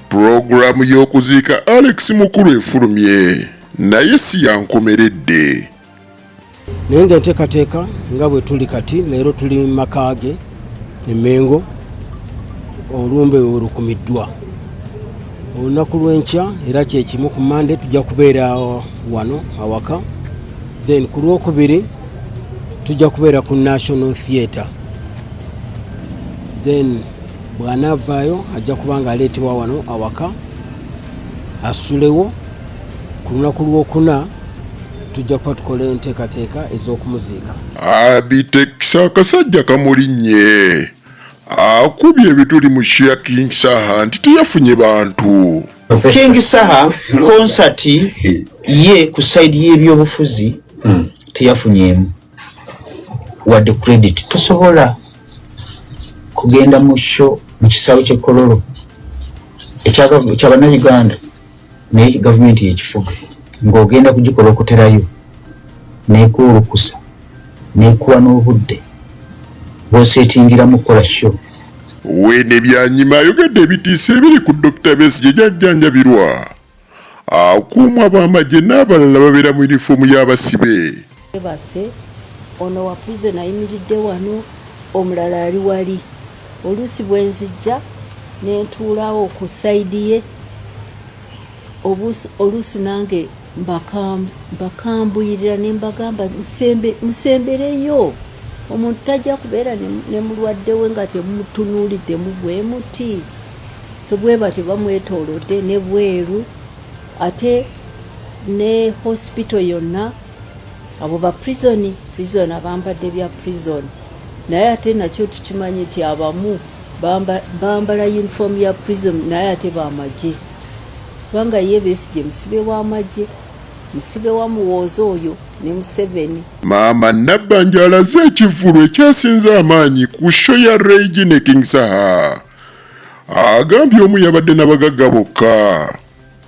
Pulogulaamu y'okuziika Alex Mukulu efulumye naye si yankomeredde. Naye nga enteekateeka nga bwe tuli kati leero tuli mu maka ge Emengo, olumbe we lukumiddwa olunaku lw'enkya era kye kimu ku Mmande tujja kubeera wano awaka. then ku lwokubiri tujja kubeera ku national theatre then bwanaavaayo ajja kuba nga aleetebwa wano awaka asulewo ku lunaku lwokuna tujja kuba tukola enteekateeka ez'okumuziika abitekisa akasajja kamulinnye akubye ebituli mu shia king saha nti teyafunye bantu king saha concert ye ku side y'ebyobufuzi hmm. teyafunyemu wadde credit tosobola kugenda mu sho mu kisaawe kyekololo ekyabanayuganda naye gavumenti yekifuga ng'ogenda kugikola okuterayo nekwolukusa nekuwa n'obudde bwosetingiramu kukola show wene byanyima ayogedde ebitiisa ebiri ku Dr. Besigye gyajjanjabirwa akuumwa b'amagye n'abalala babeera mu yunifoomu y'abasibe bebase ono wa prison ayimiridde wano omulala ali wali oluusi bwenzijja nentuulawo ku saidi ye oluusi nange mbakambuyirira ne mbagamba musembereyo omuntu tajja kubeera ne mulwadde we nga temumutunuulidde mu bwe muti so bwe batyo bamwetoolodde ne bweru ate ne hospital yonna abo ba prison prison abambadde bya prison naye ate nakyo tukimanyi nti abamu bambala uniform ya prison naye ate bamagye kubanga ye besigye musibe wamagye musibe wa muwooza oyo ne museveni maama nabbanja alaze ekivulu ekyasinze amaanyi ku sho ya regi ne king saha agambye omu yabadde nabagagga bokka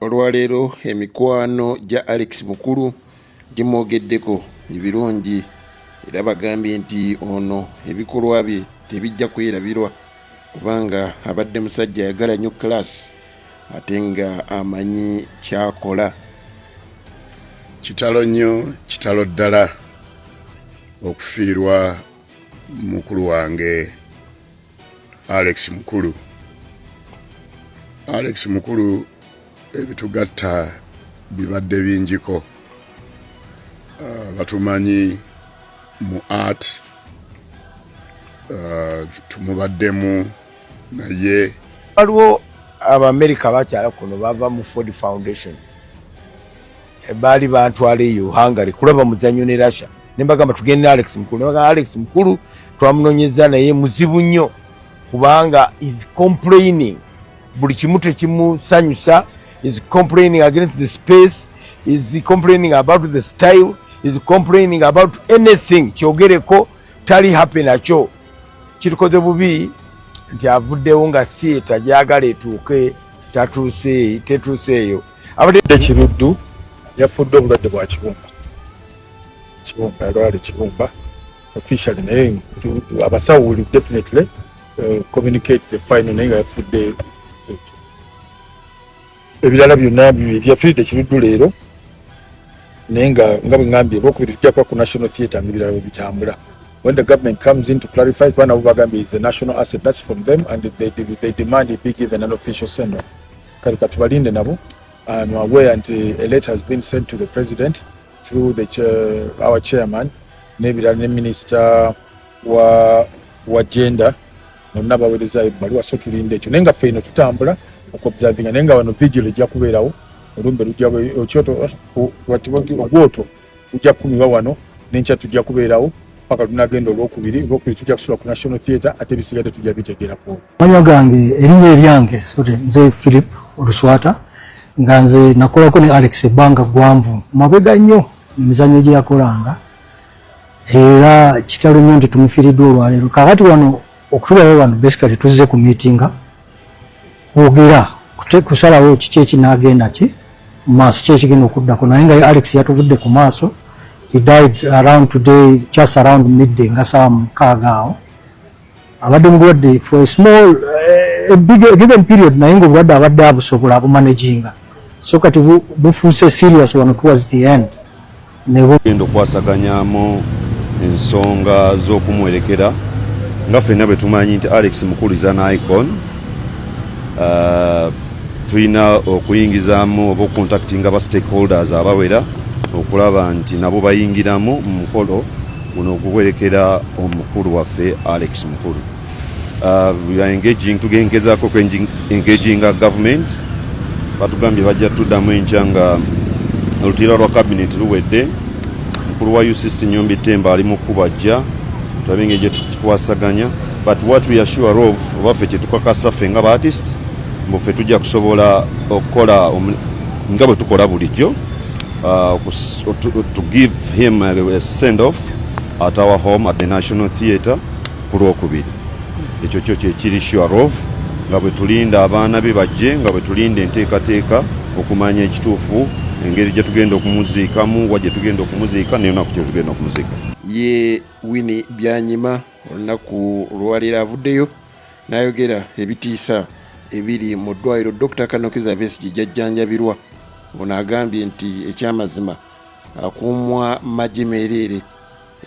olwaleero emikwano gya alex mukulu gimwogeddeko ebirungi era bagambye nti ono ebikolwa bye tebijja kwerabirwa kubanga abadde musajja ayagala nnyo kalaasi ate nga amanyi kyakola kitalo nnyo kitalo ddala okufiirwa mukulu wange Alex Mukulu. Alex Mukulu ebitugatta bibadde bingiko. Uh, batumanyi mu art uh, tumubaddemu naye waliwo abaamerika bakyala kuno bava mu ford foundation Eh, baali bantwala eyo hungary kulaba muzanyo ne russia nembagamba tugende ne alex mukulu nebagamba alex mukulu twamunonyeza naye muzibu nnyo kubanga is complaining buli kimu tekimusanyusa is complaining against the space is complaining about the style is complaining about anything kyogereko tali happy nakyo kirikoze bubi nti avuddewo nga theatre gyagala etuuke tatuuse tetuuseeyo abadde kiruddu yafudde obulwadde bwa kibumba kibumba yalwala ekibumba officially naye abasawo will definitely uh, communicate the final naye nga yafudde ekyo ebirala byonna byafiridde kiruddu leero naye nga nga bwe ngambye lwokubiri tujja kuba ku national theatre ngaebirala bwe bitambula when the government comes in to clarify kuba nabo bagambye is a national asset that's from them and they, they, they demand it be given an official send off kale katubalinde nabo I'm aware nti a letter has been sent to the president through the chair, our chairman n'ebirala ne minister wa, wa gender nonna bawerezayo ebbaluwa so tulinda ekyo naye nga ffe ino tutambula okuobservinga naye nga wano vigil ejja kubeerawo olumbe lujja okyoto eh, ogwoto ujja kukumirwa wano nenkya tujja kubeerawo paka tunagenda olwokubiri olwokubiri tujja kusula ku national theatre ate ebisigadde tujja bitegerako manya gange erinnya eryange sore nze philip oluswata nga nze nakolako ne alex ebbanga gwanvu mabega nnyo emizanyo gye yakolanga era kitalo nnyo nti tumufiiriddwa olwaleero kakati wano okutulawo wano basically tuzze ku miitinga ogera kusalawo kiki ekinagenda ki maaso ki ekigenda okuddako naye nga alex yatuvudde ku maaso he died around today just around midday nga saawa mukaaga awo abadde mulwadde for a small eh, a big, a given period naye nga obulwadde abadde abusobola abumanaginga so kati bufuuse serious wano towards the end nebugenda okwasaganyamu ensonga z'okumuwerekera nga fenna bwe tumanyi nti alex mukulu is an icon uh, tulina okuyingizamu oba okuntaktinga ba stakeholders abawera okulaba nti nabo bayingiramu mu mukolo guno oguwerekera omukulu waffe alex mukulu Uh, we are engaging tugengezako ku engaging a government batugambye bajja tuddamu enkya nga olutuira lwa kabineeti luwedde mukulu wa ucc nyombi temba ali mu kubajja tulabe engeri gyetukikwasaganya but what we are sure of obaffe kyetukakasa ffe nga baartist mbu ffe tujja kusobola okukola nga bwe tukola bulijjo uh, to give him a send off at our home at the national theatre ku lwokubiri ekyo kyo kyekiri shuarov nga bwe tulinda abaana be bajje nga bwe tulinda enteekateeka okumanya ekituufu engeri gye tugenda okumuziikamu wa gye tugenda okumuziika neyonaku kye tugenda okumuziika ye wini byanyima olunaku olwaleero avuddeyo n'ayogera ebitiisa ebiri mu ddwaliro dr kanokiza besigi gyajjanjabirwa ono agambye nti ekyamazima akuumwa magye meereere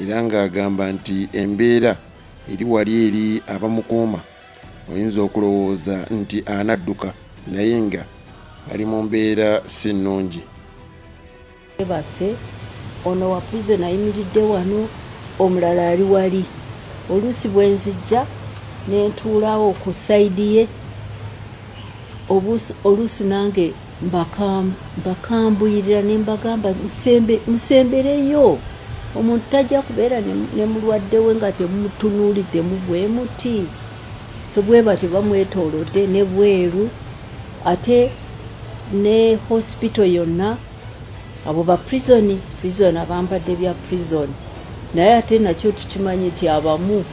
era ng'agamba nti embeera eri wali eri abamukuuma oyinza okulowooza nti anadduka naye nga ali mu mbeera si nnungi. Bebase ono wa prison ayimiridde wano omulala ali wali oluusi bwenzijja nentuulawo ku side ye oluusi nange Mbakambuyirira ne mbagamba musembereyo omuntu tajja kubeera ne mulwadde we nga temumutunuuliddemu bwe muti so bwe batyo bamwetoolodde ne bweru ate ne hospital yonna abo ba prison prison abambadde bya prison naye ate nakyo tukimanyi nti abamu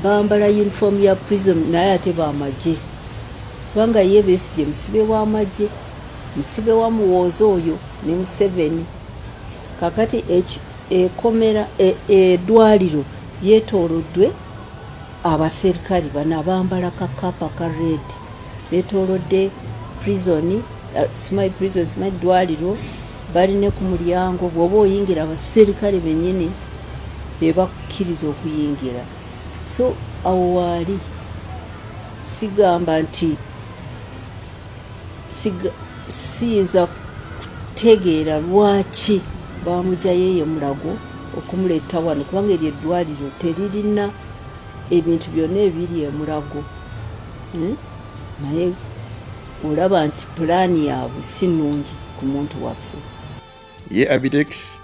bambala uniform ya prison naye ate bamagye Kubanga ye Besigye musibe wa magye, musibe wa muwooza oyo ne Museveni. Kakati ekomera e, edwaliro yetolodwe abaserikali bano abambala ka kapa ka red betolodde prison uh, simayi prison simayi dwaliro bali ne ku mulyango bwoba oyingira abaserikale benyini bebakukkiriza okuyingira so awo waali sigamba nti siyinza kutegeera lwaki bamujayo eyo mulago okumuleeta wano kubanga eryo eddwaliro teririna ebintu byonna ebiri emulago hmm? naye olaba nti pulaani yaabwe si nnungi ku muntu waffe ye abidex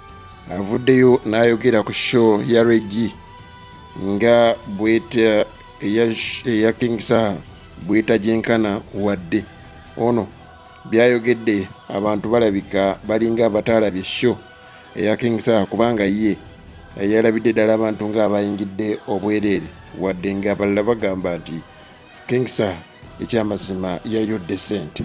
avuddeyo n'ayogera ku show ya regi nga bweta eya king saha bwetajenkana wadde ono byayogedde abantu balabika balinga abataalabye sho eya king saha kubanga ye yalabidde ddala abantu ng'abayingidde obwereere wadde ng'abalala bagamba nti king saha ekyamazima yayodde sente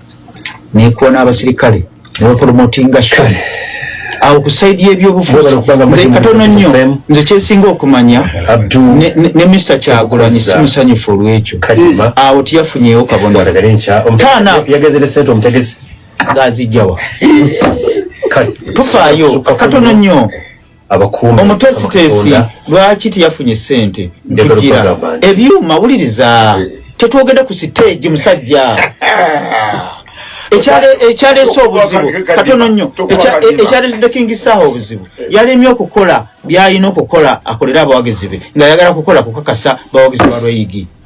nekoona abasirikale nebapolomotinga shon awo ku saidi yebyobufuuzikatono nnyo nze kyesinga okumanya ne mister kyagulanyi si musanyufu olwekyo awo tiyafunyeewo kabonatanaazijjawa tufaayo katono nnyo abakuuma omutwe siteesi lwaki teyafunye ssente kugira ebyuma wuliriza eh. tetwogenda ku siteegi musajja ekyaleese obuzibu katono nnyo ekyaleetedde kingi saaha obuzibu eh. yalemye okukola byalina okukola akolere abawagizi be nga yagala kukola kukakasa bawagizi balweyigi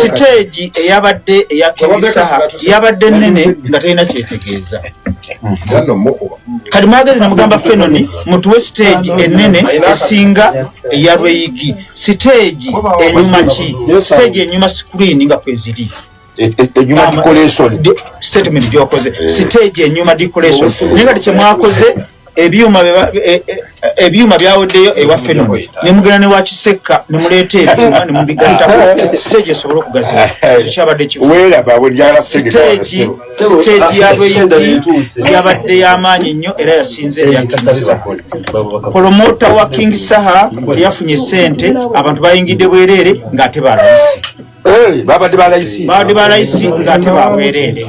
siteegi eyabadde eya kemisaha yabadde nene nga talina kyetegeeza kati mwagezi namugamba fenoni mutuwe siteegi enene esinga eya lweyigi siteegi enyuma ki siteegi enyuma sikuriini nga kweziri enyuma eh, eh, decoration statement gyokoze eh. siteegi enyuma decoration naye kati kyemwakoze ebyuma e, e, ebyuma byaweddeyo ewaffe no nemugenda newakisekka nemuleeta ebyuma nemubigattako siteegi esobole okugaziwa kyabadde kifusiteegi yabeyidi yabadde yamaanyi nnyo era yasinze eyakkiriza polomota wa king saha teyafunye sente abantu bayingidde bwereere ng'ate balayisi babadde balayisibaabadde balayisi ngaate babwereere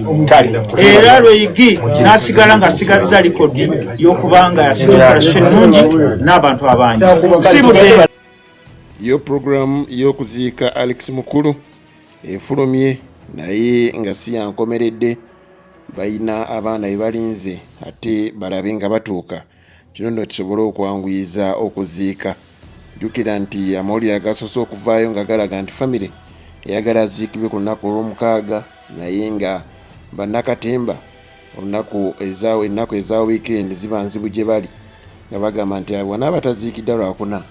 era lweigi nasigala ngaasigazza likodi yokuba nga yasikoperasyo ennungi n'abantu abangi si budde yo puroguramu y'okuziika alex mukulu efulumye naye nga si yankomeredde balina abaana bebalinze ate balabe nga batuuka Kino nno kisobole okwanguyiza okuziika. Jjukira nti amawulire agasoose okuvaayo nga galaga nti famire eyagala aziikibwe ku lunaku olw'omukaaga naye nga bannakatemba olunaku ennaku eza wiikendi ziba nzibu gye bali nga bagamba nti wanaaba taziikidda lwakuna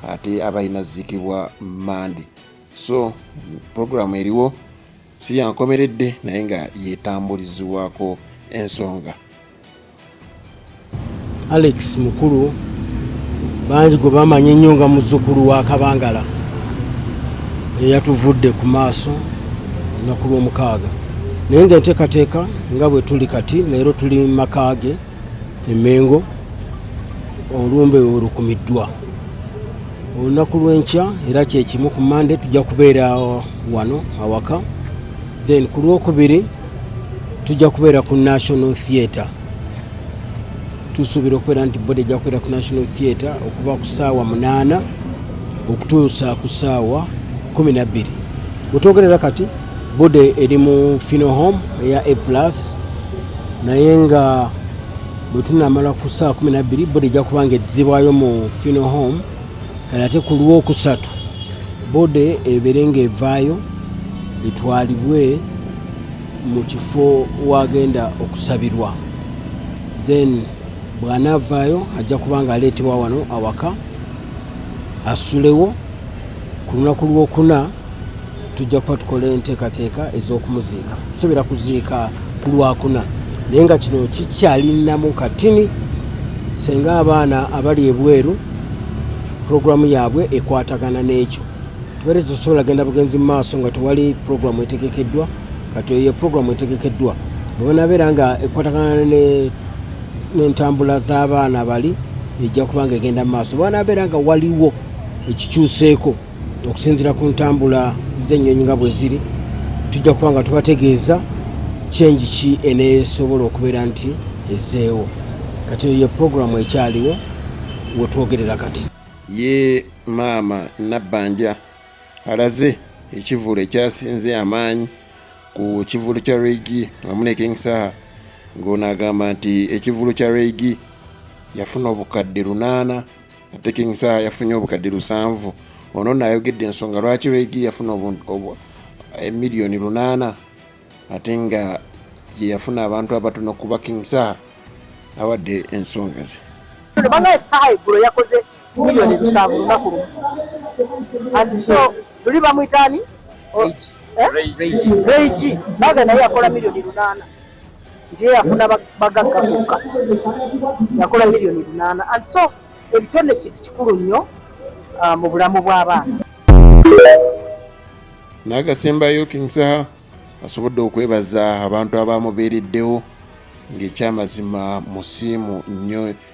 ate aba alina ziikibwa mande so puroguramu eriwo si yankomeredde naye nga yetambulizibwako ensonga Alex mukulu bangi gwe bamanyi ennyo nga muzzukulu wa kabangala eyatuvudde ku maaso olunaku lw'omukaaga naye nga enteekateeka nga bwe tuli kati leero tuli mu maka ge emengo olumbe olukumiddwa olunaku lw'enkya era kyekimu ku mande tujja kubeera wano awaka then ku lwokubiri tujja kubeera ku national theatre tusuubira okubeera nti boda ejja kubeera ku national theatre okuva ku saawa munaana okutuusa ku saawa kumi nabbiri wetwogerera kati boda eri mu fino home eya a plus naye nga bwetunamala ku saawa kumi nabbiri boda ejja kubanga eddizibwayo mu fino home kale ate ku lwokusatu bode ebeere ng'evaayo etwalibwe mu kifo wagenda okusabirwa then bw'anaavaayo ajja kuba nga aleetebwa wano awaka asulewo ku lunaku lwokuna tujja kuba tukola enteekateeka ez'okumuziika tusobera kuziika ku lwakuna naye nga kino kikyalinamu katini senga abaana abali ebweru puroguramu yaabwe ekwatagana n'ekyo tubere tusobola genda bugenzi mu maaso nga tewali puroguramu etegekeddwa kati eyo ye puroguramu etegekeddwa bwebanabeera nga ekwatagana n'entambula z'abaana bali ejja kubanga egenda mu maaso bwanabeera nga waliwo ekikyuseeko okusinzira ku ntambula z'ennyonyi nga bwe ziri tujja kuba nga tubategeeza kyengi ki eneesobola okubeera nti ezzeewo kati eyo ye puroguramu ekyaliwo wetwogerera kati ye maama nabbanja alaze ekivulu ekyasinze amaanyi ku kivulu kya reigi wamu ne king saha ng'ono agamba nti ekivulu kya reigi yafuna obukadde lunaana ate king saa yafunye obukadde lusanvu ono nayogedde ensonga lwaki regi yafuna emiliyoni eh, lunaana ate nga yeyafuna abantu abatono kuba king saa awadde ensonga ze banaye saa eggulo yakoze miliyoni lusanvu lunaku lumu anti so luli bamwitaani regi eh? baga naye yakola miliyoni lunaana nti yeyafuna bagagga kokka yakola miliyoni lunaana and so ebitone kintu kikulu nnyo uh, mu bulamu bw'abaana n'agasembayo king saha asobodde okwebaza abantu abaamubeereddewo ng'ekyamazima musiimu nnyo